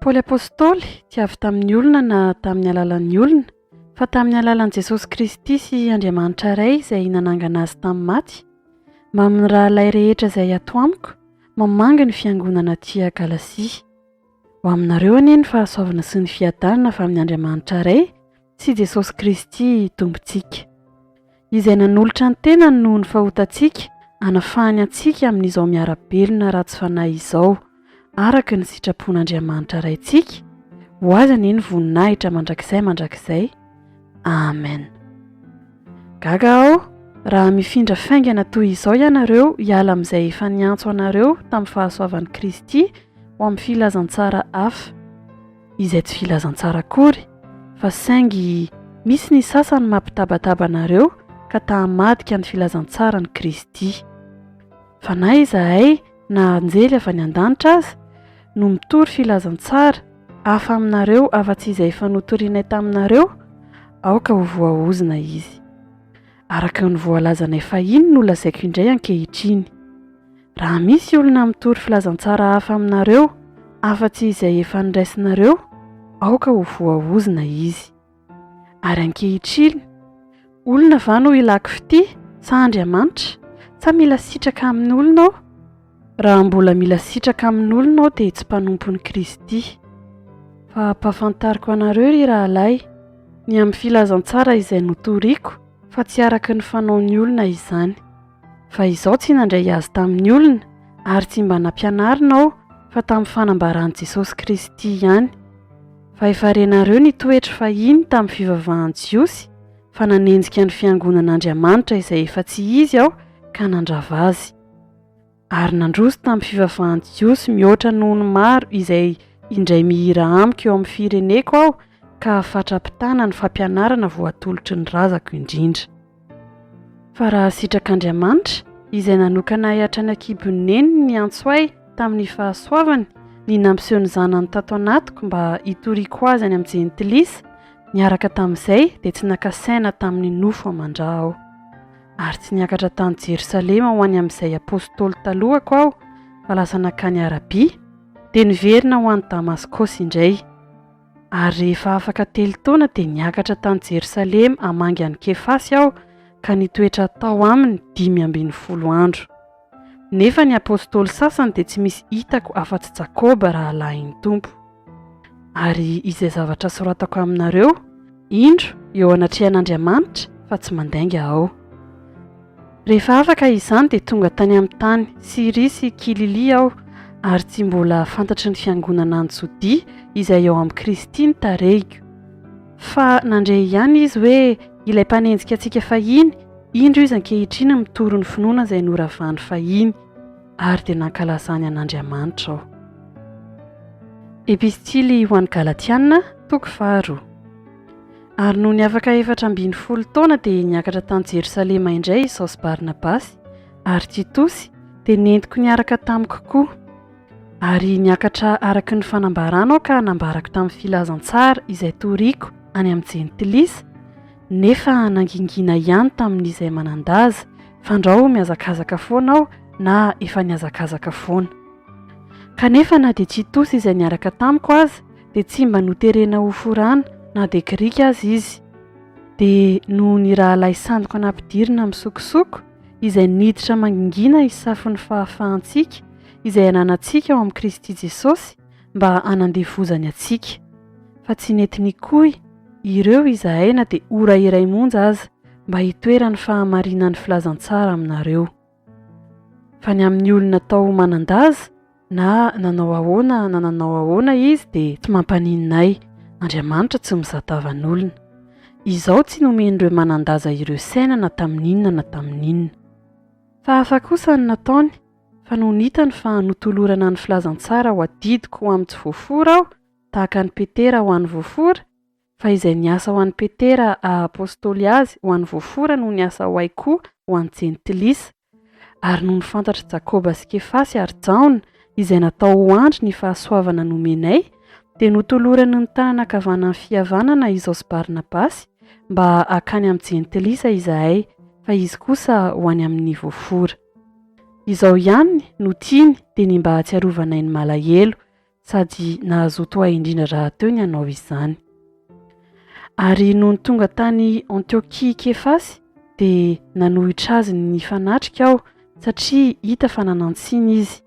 Paoly Apostoly tsy avy tamin'ny olona na tamin'ny alalan'ny olona, fa tamin'ny alalan'i Jesosy Kristy sy Andriamanitra Ray izay nanangana azy tamin'ny maty, mba amin'ny rahalahy rehetra izay ato amiko, mamangy ny fiangonana aty Galasia. Ho aminareo anie ny fahasoavana sy ny fiadanana avy amin'Andriamanitra Ray, sy Jesosy Kristy Tompontsika, Izay nanolotra ny tenany noho ny fahotantsika hanafahany antsika amin'izao miara-belona ratsy fanahy izao, araka ny sitrapon'Andriamanitra Raintsika, ho Azy anie ny voninahitra mandrakizay mandrakizay. Amen. Gaga aho raha mifindra faingana toy izao ianareo hiala amin'izay efa niantso anareo tamin'ny fahasoavan'i Kristy ho amin'ny filazantsara hafa. izay tsy filazantsara akory fa saingy misy ny sasany mampitabataba anareo ka ta hamadika ny filazantsaran'i Kristy. Fa na izahay na anjely avy any an-danitra aza no mitory filazantsara hafa aminareo afa-tsy izay efa notorianay taminareo, aoka ho voaozona izy. araka ny voalazanay fahiny no lazaiko indray ankehitriny. Raha misy olona mitory filazantsara hafa aminareo afa-tsy izay efa noraisinareo, aoka ho voaozona izy. Ary ankehitriny, olona va no ilako fitia, sa Andriamanitra? Sa mila sitraka amin'olona aho? Raha mbola mila sitraka amin'olona aho dia tsy mpanompon'i Kristy. Fa ampahafantariko anareo, ry rahalahy, ny amin'ny filazantsara izay notoriko, fa tsy araka ny fanaon'ny olona izany. Fa izaho tsy nandray azy tamin'ny olona, ary tsy mba nampianarina aho, fa tamin'ny fanambaran'i Jesosy Kristy ihany. Fa efa renareo ny toetro fahiny tamin'ny fivavahan'ny Jiosy, fa nanenjika ny fiangonan'Andriamanitra izay efa tsy izy aho ka nandrava azy. ary nandroso tamin'ny fivavahan'i Jiosy mihoatra noho ny maro izay indray mihira amiko eo amin'ny fireneko aho ka fatra-pitana ny fampianarana voatolotry ny razako indrindra. Fa raha sitrak'Andriamanitra, izay nanokana ahy hatrany an-kibon'ny neniny niantso ahy tamin'ny fahasoavany, ny nampiseho ny Zanany tato anatiko mba hitoriako Azy any amin'ny Jentilisa, niaraka tamin'izay dia tsy naka saina tamin'ny nofo aman-dra aho. Ary tsy niakatra tany Jerosalema ho any amin'izay apostoly talohako aho, fa lasa nankany Arabia, dia niverina ho any Damaskosy indray. Ary rehefa afaka telo taona dia niakatra tany Jerosalema hamangy an'i Kefasy aho, ka nitoetra tao aminy dimy ambin'ny folo andro. Nefa ny apostoly sasany dia tsy misy hitako afa-tsy Jakoba rahalahin'ny Tompo. Ary izay zavatra soratako aminareo, indro, eo anatrehan'Andriamanitra, fa tsy mandainga aho. Rehefa afaka izany dia tonga tany amin'ny tany Syria sy Kililia aho, ary tsy mbola fantatry ny fiangonana any Jodia izay ao amin'i Kristy ny tarehiko. Fa nandre ihany izy hoe ilay mpanenjika antsika fahiny, indro izy ankehitriny mitory ny finoana izay noravany fahiny, ary dia nankalazany an'Andriamanitra aho. Epistily ho an'ny Galatiana, toko faharoa. Ary nony afaka efatra ambin'ny folo taona dia niakatra tany Jerosalema indray izaho sy Barnabasy, ary Titosy dia nentiko niaraka tamiko koa. Ary niakatra araka ny fanambarana aho ka nambarako tamin'ny filazantsara izay toriako any amin'ny Jentilisa, nefa nangingina ihany tamin'izay manan-daza, fandrao mihazakazaka foana aho na efa nihazakazaka foana. Kanefa na dia Titos izay niaraka tamiko aza dia tsy mba noterena ho forana na dia Grika aza izy. Dia noho ny rahalahy sandiko nampidirina misokosoko, izay niditra mangingina hisafon'ny fahafahantsika izay ananantsika ao amin'i Kristy Jesosy mba hanandevozany antsika. Fa tsy nety nikoy ireo izahay na dia ora iray monja aza mba hitoeran'ny fahamarinan'ny filazantsara aminareo. Fa ny amin'ny olona atao ho manan-daza, na nanao ahoana na nanao ahoana izy dia tsy mampaninona ahy, Andriamanitra tsy mizatavan'olona. Izao tsy nomen'ireo manan-daza ireo saina na tamin'inona na tamin'inona. Fa hafa kosa ny nataony, fa nony hitany fa notolorana ny filazantsara ho adidiko ho amin'ny tsy voafora aho, tahaka an'i Petera ho an'ny voafora, fa izay niasa ho an'i Petera haha-apostoly azy ho an'ny voafora no niasa ho ahy koa ho an'ny jentilisa, Ary nony fantatr'i Jakoba sy Kefasy ary Jaona izay natao ho andry ny fahasoavana nomenay, dia notolorany ny tanana ankavanan'ny fihavanana izaho sy Barnabasy, mba hakany amin'ny jentilisa izahay, fa izy kosa ho any amin'ny voafora. Izao ihany no tiany dia ny mba hahatsiarovanay ny malahelo, sady nahazoto ahy indrindra rahateo ny hanao izany. Ary nony tonga tany Antiokia i Kefasy, dia nanohitra azy ny fanatrika aho, satria hita fa nanan-tsiny izy.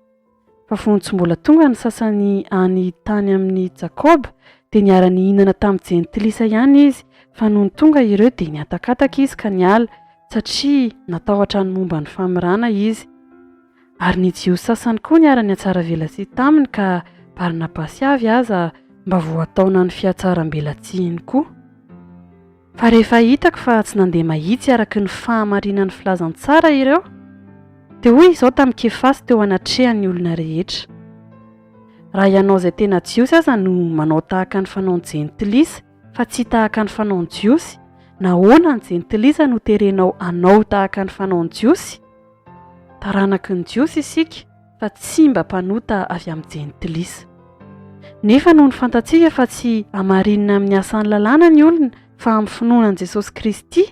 Fa fony tsy mbola tonga ny sasany any tany amin'i Jakoba, dia niara-nihinana tamin'ny Jentilisa ihany izy, fa nony tonga ireo dia nihatakataka izy ka niala, satria natahotra ny momba ny famirana izy. Ary ny Jiosy sasany koa niara-nihatsaravelatsihy taminy ka Barnabasy avy aza mba voataona ny fihatsarambelatsihiny koa. Fa rehefa hitako fa tsy nandeha mahitsy araka ny fahamarinan'ny filazantsara ireo, dia hoy izao tamin'i Kefasy teo anatrehan'ny olona rehetra, Raha ianao izay tena Jiosy aza no manao tahaka ny fanaon'ny Jentilisa fa tsy tahaka ny fanaon'ny Jiosy, nahoana ny Jentilisa no terenao hanao tahaka ny fanaon'ny Jiosy? Taranaky ny Jiosy isika fa tsy mba mpanota avy amin'ny Jentilisa. Nefa noho ny fantatsika fa tsy hamarinina amin'ny asan'ny lalàna ny olona fa amin'ny finoana an'i Jesosy Kristy,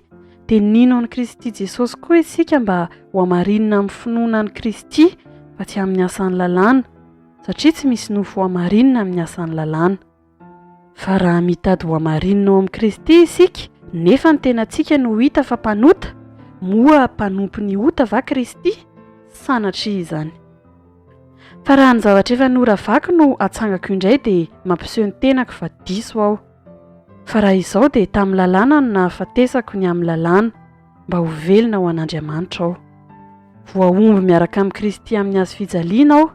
dia nino an'i Kristy Jesosy koa isika mba ho hamarinina amin'ny finoana an'i Kristy fa tsy amin'ny asan'ny lalàna, satria tsy misy nofy ho hamarinina amin'ny asan'ny lalàna. Fa raha mitady ho hamarinina ao amin'i Kristy isika, nefa ny tenantsika no hita fa mpanota, moa mpanompo ny ota va Kristy? Sanatria izany! Fa raha ny zavatra efa noravako no atsangako indray dia mampiseho ny tenako fa diso aho. Fa raha izao dia tamin'ny lalàna no nahafatesako ny amin'ny lalàna, mba ho velona ho an'Andriamanitra aho. Voahombo miaraka amin'i Kristy amin'ny hazofijaliana aho,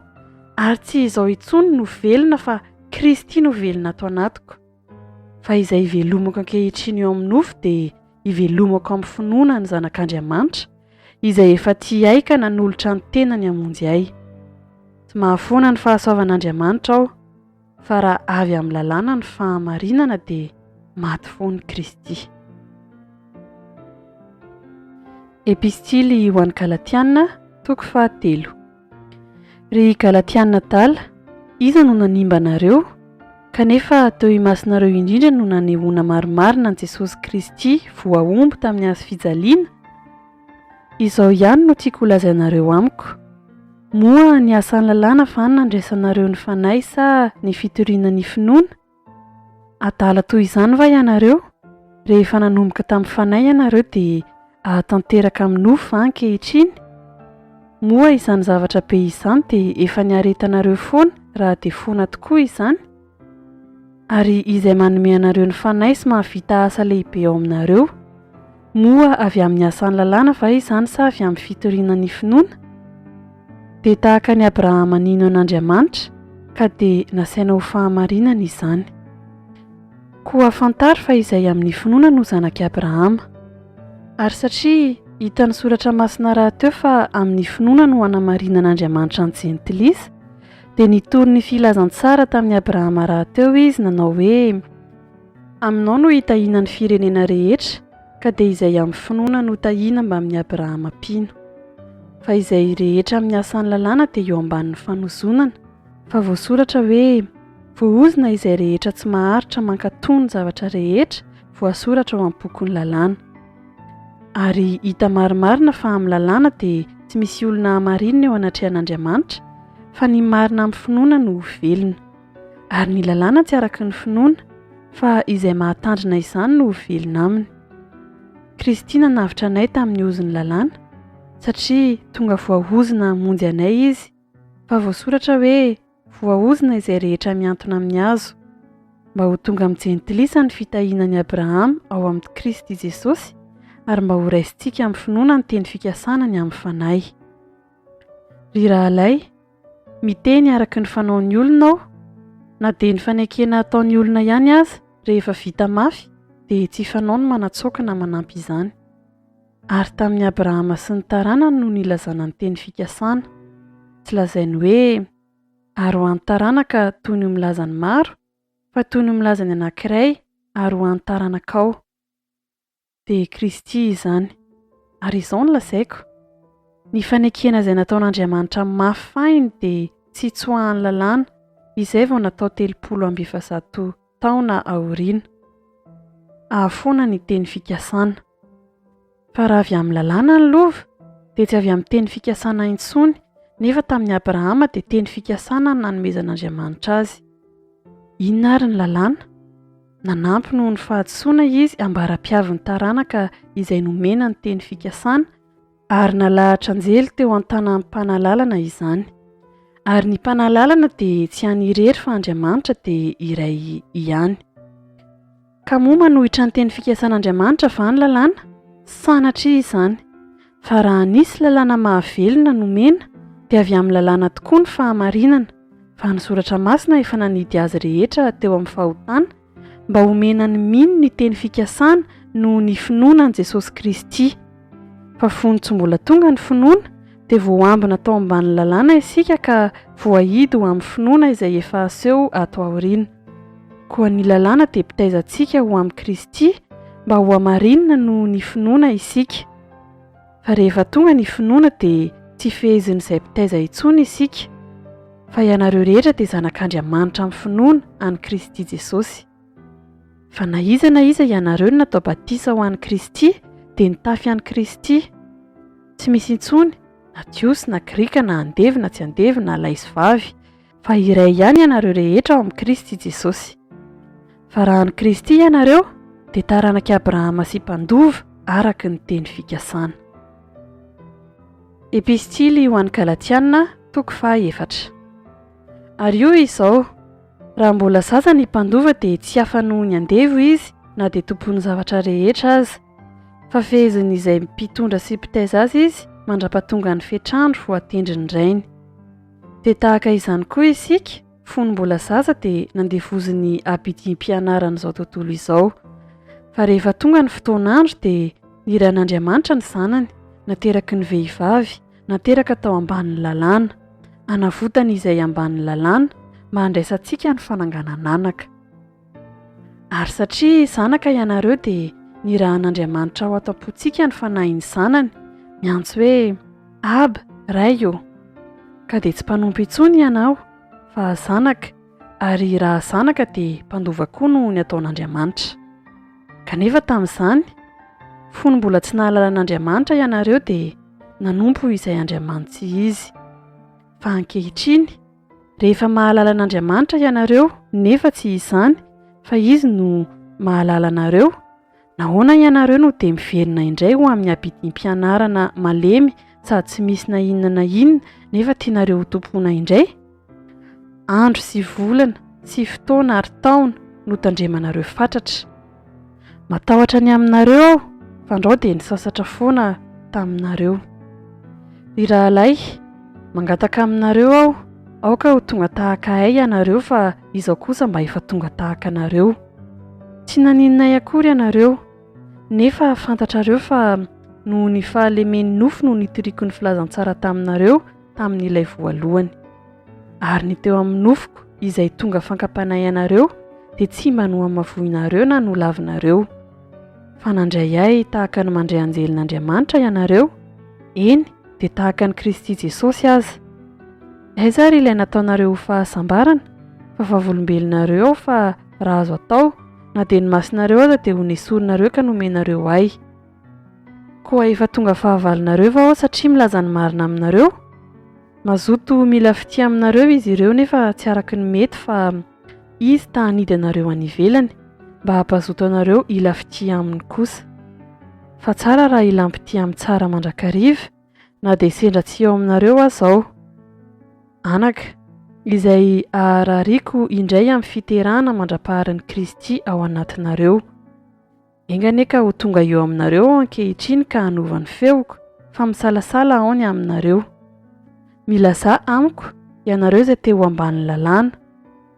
ary tsy izao intsony no velona fa Kristy no velona ato anatiko, fa izay ivelomako ankehitriny eo amin'ny nofo dia ivelomako amin'ny finoana ny Zanak'Andriamanitra, izay efa tia ahy ka nanolotra ny tenany hamonjy ahy. Tsy mahafoana ny fahasoavan'Andriamanitra aho, fa raha avy amin'ny lalàna ny fahamarinana dia maty foana i Kristy. Epistily ho an'ny Galatiana, toko fahatelo. Ry Galatiana adala, iza no nanimba anareo? Kanefa teo imasonareo indrindra no nanehoana marimarina an'i Jesosy Kristy voahombo tamin'ny hazo fijaliana? Izao ihany no tiako holazainareo amiko, Moa ny asan'ny lalàna va no nandraisanareo ny fanahy sa ny fitoriana ny finoana? Adala toy izany va ianareo? Rehefa nanomboka tamin'ny fanahy ianareo dia ahatanteraka amin'ny nofo va ankehitriny? Moa izany zavatra be izany dia efa niaretanareo foana raha dia foana tokoa izany? Ary Izay manome anareo ny fanahy sy mahavita asa lehibe ao aminareo. Moa avy amin'ny asan'ny lalàna va izany sa avy amin'ny fitoriana ny finoana? Dia tahaka an'i Abrahama nino an'Andriamanitra ka dia nasaina ho fahamarinana izany. Koa fantaro fa izay amin'ny finoana no zanak'i Abrahama. Ary satria hitan'ny Soratra Masina rahateo fa amin'ny finoana no hanamarinan'Andriamanitra ny jentilisa, dia nitory ny filazantsara tamin'i Abrahama rahateo Izy nanao hoe, Aminao no hitahiana ny firenena rehetra, ka dia izay amin'ny finoana no tahiana mbamin'i Abrahama mpino. Fa izay rehetra amin'ny asan'ny lalàna dia eo ambanin'ny fanozonana, fa voasoratra hoe, Voaozona izay rehetra tsy maharitra mankatò ny zavatra rehetra voasoratra ao amin'ny bokin'ny lalàna. Ary hita marimarina fa amin'ny lalàna dia tsy misy olona hamarinina eo anatrehan'Andriamanitra, fa ny marina amin'ny finoana no ho velona. Ary ny lalàna tsy araka ny finoana, fa izay mahatandrina izany no ho velona aminy. Kristy nanavotra anay tamin'ny ozon'ny lalàna, satria tonga voaozona hamonjy anay izy, fa voasoratra hoe voaozona izay rehetra mihantona amin'ny hazo, mba ho tonga amin'ny jentilisa ny fitahiana an'i Abrahama ao amin'i Kristy Jesosy, ary mba horaisintsika amin'ny finoana ny teny fikasana ny amin'ny fanahy. Ry rahalahy, Miteny araka ny fanaon'ny olona aho, na dia ny fanekena ataon'ny olona ihany aza rehefa vita mafy dia tsy fanao ny manatsoaka na manampy izany. Ary tamin'i Abrahama sy ny taranany no nilazana ny teny fikasana. Tsy lazainy hoe, Ary ho an'ny taranaka toy ny ho milazan'ny maro, fa toy ny ho milazan'ny anankiray, ary ho an'ny taranakao. dia i Kristy izany. Ary izao no lazaiko, Ny fanekena izay nataon'Andriamanitra mafy fahiny dia tsy hitsoahan'ny lalàna, izay vao natao telopolo amby efajato taona aoriana. Ahafoana ny teny fikasana. Fa raha avy amin'ny lalàna ny lova, dia tsy avy amin'ny teny fikasana intsony, nefa tamin'i Abrahama dia teny fikasana no nanomezan'Andriamanitra azy. Inona ary ny lalàna? Nanampy noho ny fahadisoana izy ambara-piavin'ny taranaka izay nomena ny teny fikasana, ary nalahatra anjely teo an-tanan'ny Mpanalalana izany. Ary ny Mpanalalana dia tsy any irery fa Andriamanitra dia iray ihany. Ka moa manohitra ny teny fikasan'Andriamanitra va ny lalàna? Sanatria izany! Fa raha nisy lalàna mahavelona nomena, dia avy amin'ny lalàna tokoa ny fahamarinana, fa ny Soratra Masina efa nanidy azy rehetra teo amin'ny fahotana, mba homena ny mino ny teny fikasana noho ny finoana an'i Jesosy Kristy. Fa fony tsy mbola tonga ny finoana, dia voambina tao ambanin'ny lalàna isika ka voahidy ho amin'ny finoana izay efa haseho ato aoriana. Koa ny lalàna dia mpitaiza antsika ho amin'i Kristy, mba hohamarinina noho ny finoana isika. Fa rehefa tonga ny finoana dia tsy fehezin'izay mpitaiza intsony isika, fa ianareo rehetra dia zanak'Andriamanitra amin'ny finoana an'i Kristy Jesosy. Fa na iza na iza ianareo no natao batisa ho an'i Kristy dia nitafy an'i Kristy. Tsy misy intsony na Jiosy na Grika na andevo na tsy andevo na lahy sy vavy, Fa iray ihany ianareo rehetra ao amin'i Kristy Jesosy. Fa raha an'i Kristy ianareo, dia taranak'i Abrahama sy mpandova araka ny teny fikasana. Epistily ho an'ny Galatiana, toko faha efatra. Ary hoy izao, Raha mbola zaza ny mpandova dia tsy hafa noho ny andevo izy na dia tompon'ny zavatra rehetra aza, fa fehezin'izay mpitondra sy mpitaiza azy izy mandra-pahatongan'ny fetr'andro voatendrin'ny rainy. Dia tahaka izany koa isika, fony mbola zaza dia nandevozin'ny abidim-pianarana izao tontolo izao. Fa rehefa tonga ny fotoan'andro dia nirahin'Andriamanitra ny Zanany, nateraky ny vehivavy, nateraka tao ambanin'ny Lalàna, hanavotany izay ambanin'ny Lalàna, mba handraisantsika ny fananganan-anaka. Ary satria zanaka ianareo dia nirahan'Andriamanitra ao an-tampontsika ny fanahin'ny Zanany, miantso hoe Aba, Ray ô! Ka dia tsy mpanompo intsony ianao, fa zanaka, ary raha zanaka dia mpandova koa noho ny ataon'Andriamanitra. Kanefa tamin'izany, fony mbola tsy nahalala an'Andriamanitra ianareo dia nanompo izay andriamanitsy izy. Fa ankehitriny, Rehefa mahalala an'Andriamanitra ianareo nefa tsy izany fa Izy no mahalala anareo, nahoana ianareo no dia miverina indray ho amin'ny abidim-pianarana malemy sady tsy misy na inona na inona nefa tianareo hotompoina indray? Andro sy volana sy fotoana ary taona notandremanareo fatratra. Matahotra ny aminareo aho, fandrao dia nisasatra foana taminareo. Ry rahalahy, mangataka aminareo aho, aoka ho tonga tahaka ahy ianareo fa izaho kosa mba efa tonga tahaka anareo. Tsy nanininay akory ianareo, nefa fantatrareo fa noho ny fahalemen'ny nofo no nitoriako ny filazantsara taminareo, tamin'ilay voalohany. Ary ny teo amin'ny nofoko, izay tonga fankapana ianareo, dia tsy mba nohamavoinareo na nolavinareo. Fa nandray ahy tahaka ny mandray anjelin'Andriamanitra ianareo, eny, dia tahaka an'i Kristy Jesosy aza. Aiza ary ilay nataonareo ho fahasambarana, fa vavolombelonareo aho fa, raha azo atao, na dia ny masonareo aza dia ho nesorinareo ka nomenareo ahy. Koa efa tonga fahavalonareo va aho satria milaza ny marina aminareo? Mazoto mila fitia aminareo izy ireo nefa tsy araka ny mety fa Izy ta hanidy anareo any ivelany mba hampazoto anareo hila fitia Aminy kosa. Fa tsara raha hilam-pitia amin'ny tsara mandrakariva na dia sendra tsy eo aminareo aza aho. Anaka, izay aharariako indray amin'ny fiterahana mandra-paharin'i Kristy ao anatinareo. Enga anie ka ho tonga eo aminareo aho ankehitriny ka hanova ny feoko, fa misalasala aho ny aminareo. Milazà amiko, ianareo izay te ho ambanin'ny Lalàna.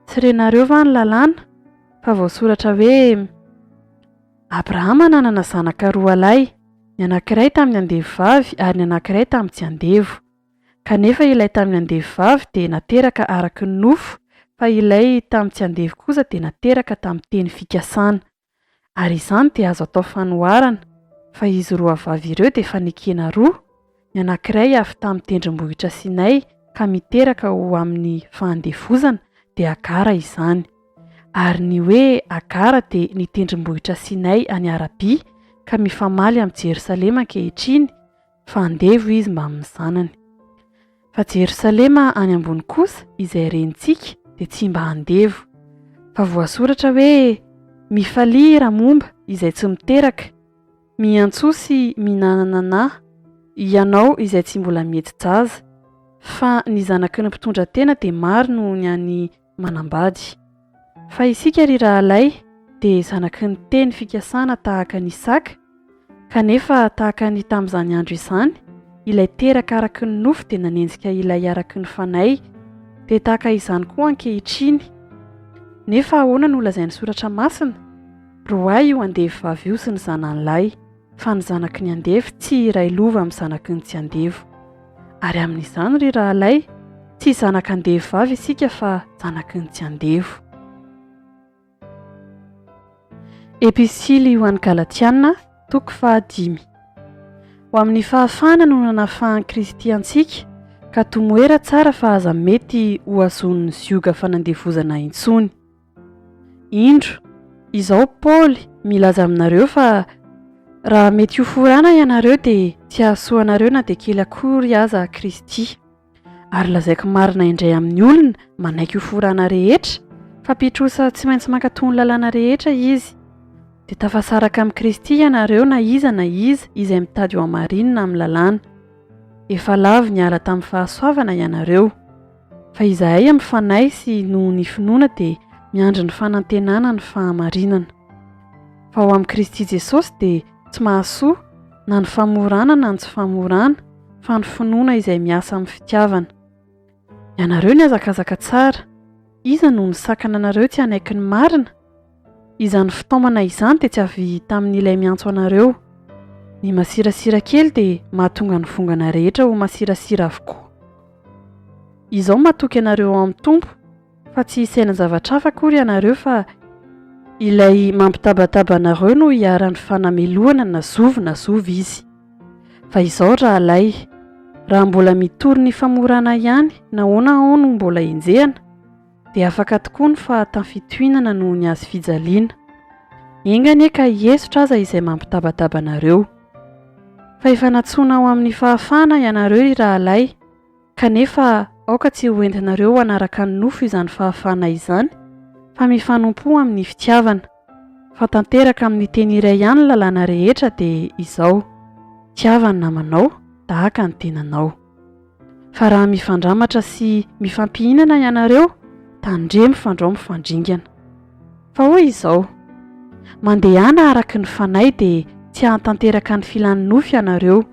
Tsy renareo va ny Lalàna? Fa voasoratra hoe, Abrahama nanana zanaka roalahy, ny anankiray tamin'ny andevovavy ary ny anankiray tamin'ny tsy andevo. Kanefa ilay tamin'ny andevovavy dia nateraka araka ny nofo, fa ilay tamin'ny tsy andevo kosa dia nateraka tamin'ny teny fikasana. ary izany dia azo atao fanoharana fa izy roa vavy ireo dia efa nekena roa, ny anankiray avy tamin'ny tendrombohitra Sinay ka miteraka ho amin'ny fahandevozana dia Agara izany, ary ny hoe Agara dia ny tendrombohitra Sinay any Arabia ka mifamaly amin'i Jerosalema ankehitriny, fa andevo izy mbamin'ny zanany. Fa Jerosalema any ambony kosa izay rentsika dia tsy mba andevo. Fa voasoratra hoe, Mifalia raha momba izay tsy miteraka, miantsoa sy minanana na, ianao izay tsy mbola mihetsi-jaza, fa ny zanaky ny mpitondra tena dia maro noho ny an'i manambady. Fa isika ry rahalahy dia zanaky ny teny fikasana tahaka an'i Isaka, kanefa tahaka ny tamin'izany andro izany, ilay teraka araky ny nofo dia nanenjika ilay araky ny fanahy, dia tahaka izany koa ankehitriny. Nefa ahoana no lazain'ny Soratra Masina? Roahy io andevi-vavy io sy ny zanany lahy. fa ny zanaky ny andevo tsy hiray lova amin'ny zanaky ny tsy andevo. Ary amin'izany, ry rahalahy, tsy zanak'andevo vavy isika fa zanaky ny tsy andevo. Epistily ho an'ny Galatiana, toko fahadimy. Ho amin'ny fahafahana no nanafahan'i Kristy antsika, ka tomoera tsara fa aza mety ho azon'ny zioga fanandevozana intsony. Indro, izao Paoly milaza aminareo fa raha mety hoforana ianareo dia tsy hahasoa anareo na dia kely akory aza Kristy. Ary lazaiko marina indray amin'ny olona manaiky hoforana rehetra fa mpitrosa tsy maintsy mankatò ny lalàna rehetra izy. Dia tafasaraka amin'i Kristy ianareo na iza na iza izay mitady ho hamarinina amin'ny lalàna. Efa lavo niala tamin'ny fahasoavana ianareo. Fa izahay amin'ny Fanahy sy noho ny finoana dia miandry ny fanantenana ny fahamarinana. Fa ao amin'i Kristy Jesosy dia tsy mahasoa na ny famorana na ny tsy famorana fa ny finoana izay miasa amin'ny fitiavana. Ianareo nihazakazaka tsara. Iza no nisakana anareo tsy hanaiky ny marina? Izany fitaomana izany dia tsy avy tamin'ilay miantso anareo. Ny masirasira kely dia mahatonga ny vongana rehetra ho masirasira avokoa. Izao matoky anareo ao amin'ny Tompo fa tsy hisaina zavatra hafa akory ianareo fa Ilay mampitabataba anareo no iharan'ny fanamelohana na zovy na zovy Izy. Fa izao rahalahy, raha mbola mitory ny famorana ihany, nahoana aho no mbola enjehina? dia afaka tokoa ny fahatany fitohinana noho ny azy fijaliana. Enga anie ka hihesotra aza izay mampitabataba anareo. Fa efa nantsoina ho amin'ny fahafahana ianareo, ry rahalahy, kanefa aoka tsy hoentinareo ho hanaraka ny nofo izany fahafahana izany, fa mifanompoa amin'ny fitiavana. Fa tanteraka amin'ny teny iray ihany ny lalàna rehetra, dia izao, Tiava ny namanao tahaka ny tenanao. Fa raha mifandramatra sy mifampihinana ianareo, tandremo fandrao mifandringana. Fa hoy izao, Mandehana araka ny Fanahy dia tsy hahatanteraka ny filan'ny nofo ianareo.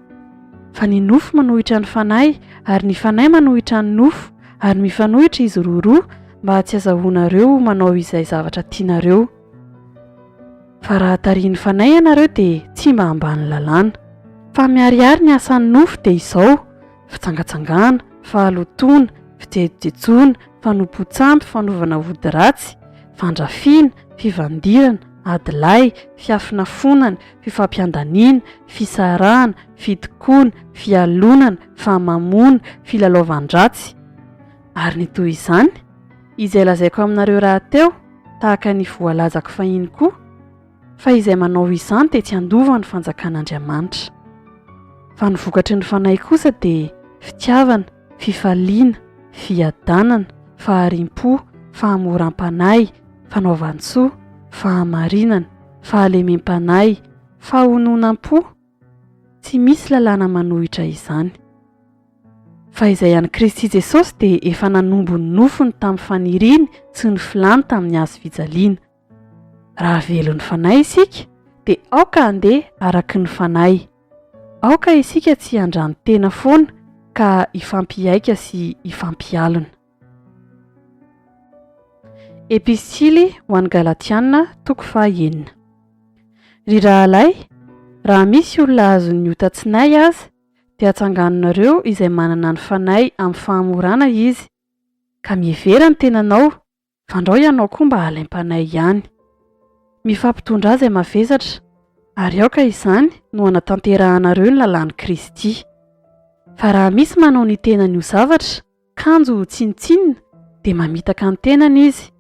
Fa ny nofo manohitra ny Fanahy, ary ny Fanahy manohitra ny nofo, ary mifanohitra izy roa roa mba tsy hazahoanareo ho manao izay zavatra tianareo. Fa raha tarihin'ny Fanahy ianareo dia tsy mba ambany lalàna. Fa miharihary ny asan'ny nofo dia izao, fitsangatsangana, fahalotoana, fijejojejoana, fanompoan-tsampy, fanovana ody ratsy, fandrafiana, fivandirana, adilahy, fiafonafonana, fifampiandaniana, fisarahana, fitokoana, fialonana, famamoana, filalaovan-dratsy, ary ny toy izany. Izay lazaiko aminareo rahateo, tahaka ny voalazako fahiny koa, fa izay manao izany dia tsy handova ny fanjakan'Andriamanitra. Fa ny vokatry ny Fanahy kosa dia, fitiavana, fifaliana, fiadanana, fahariam-po, fahamoram-panahy, fanaovan-tsoa, fahamarinana, fahalemem-panahy, fahononam-po, Tsy misy lalàna manohitra izany. Fa izay an'i Kristy Jesosy dia efa nanombo ny nofony tamin'ny faniriany sy ny filany tamin'ny Hazo fijaliana. Raha velon'ny Fanahy isika, dia aoka handeha araka ny Fanahy. Aoka isika tsy hiandran-tena foana ka hifampihaika sy hifampialona. Epistily ho an'ny Galatiana, toko faha enina. Ry rahalahy, raha misy olona azon'ny ota tsinay aza, dia atsanganonareo izay manana ny fanahy amin'ny fahamorana izy, ka mihevera ny tenanao, fandrao ianao koa mba halaim-panahy ihany. Mifampitondrà izay mavesatra, ary aoka izany no hanatanterahanareo ny lalàn'i Kristy. Fa raha misy manao ny tenany ho zavatra, kanjo tsinontsinona dia mamitaka ny tenany izy.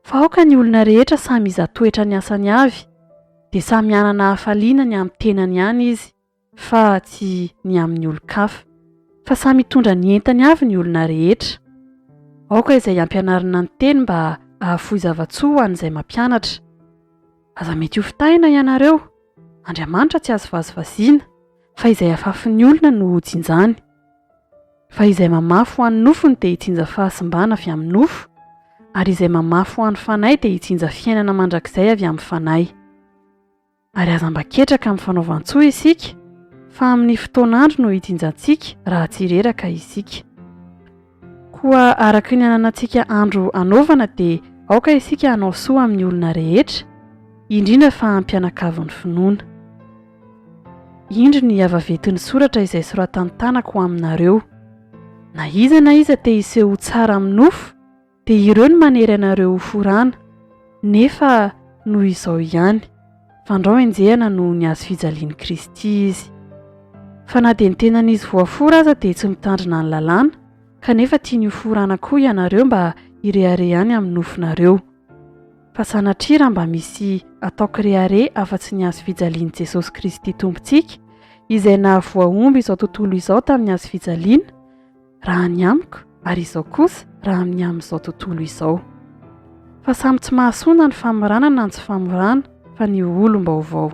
Fa aoka ny olona rehetra samy iza toetra ny asany avy, dia samy hanana hafaliana ny amin'ny tenany ihany izy fa tsy ny amin'ny olon-kafa. Fa samy hitondra ny entany avy ny olona rehetra. Aoka izay ampianarina ny teny mba hahafoy zava-tsoa ho an'izay mampianatra. Aza mety hofitahina ianareo. Andriamanitra tsy azo vazivaziana, fa izay afafin'ny olona no hojinjany. Fa izay mamafy ho an'ny nofony dia hitsinja fahasimbana avy amin'ny nofo, ary izay mamafy ho an'ny fanahy dia hitsinja fiainana mandrakizay avy amin'ny fanahy. Ary aza mba ketraka amin'ny fanaovan-tsoa isika, fa amin'ny fotoan'andro no hitsinjantsika raha tsy reraka isika. Koa araka ny ananantsika andro hanaovana dia aoka isika hanao soa amin'ny olona rehetra, indrindra fa am-pianakavy ny finoana. Indro ny havavetin'ny soratra izay soratan-tanako ho aminareo, Na iza na iza te hiseho ho tsara amin'ny nofo, dia ireo no manery anareo ho forana, nefa noho izao ihany. Fandrao henjehana noho ny hazo fijalian'i Kristy izy. Fa na dia ny tenan'izy voafora aza dia tsy mitandrina ny lalàna, kanefa tiany hoforana koa ianareo mba hirehareha any amin'ny nofonareo. Fa sanatria raha mba misy atao kirehareha afa-tsy ny hazo fijalian'i Jesosy Kristy Tompontsika, izay nahavoa omby izao tontolo izao tamin'ny hazo fijaliana, raha ny amiko ary izao kosa raha amin'ny amin'izao tontolo izao. Fa samy tsy mahasoa na ny famorana na ny tsy famorana fa ny ho olom-baovao.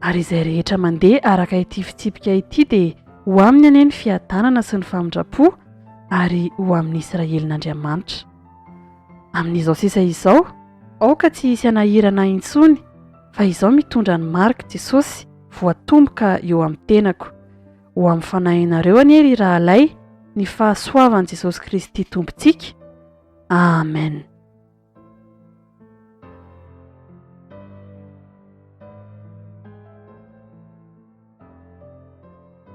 Ary izay rehetra mandeha araka ity fitsipika ity dia ho aminy anie ny fiadanana sy ny famindram-po ary ho amin'ny Israelin'Andriamanitra. Amin'izao sisa izao, aoka tsy hisy hanahirana intsony fa izao mitondra ny marika Jesosy voatomboka eo amin'ny tenako. Ho amin'ny fanahinareo anie ry rahalahy ny fahasoavan'i Jesosy Kristy Tompontsika. Amen.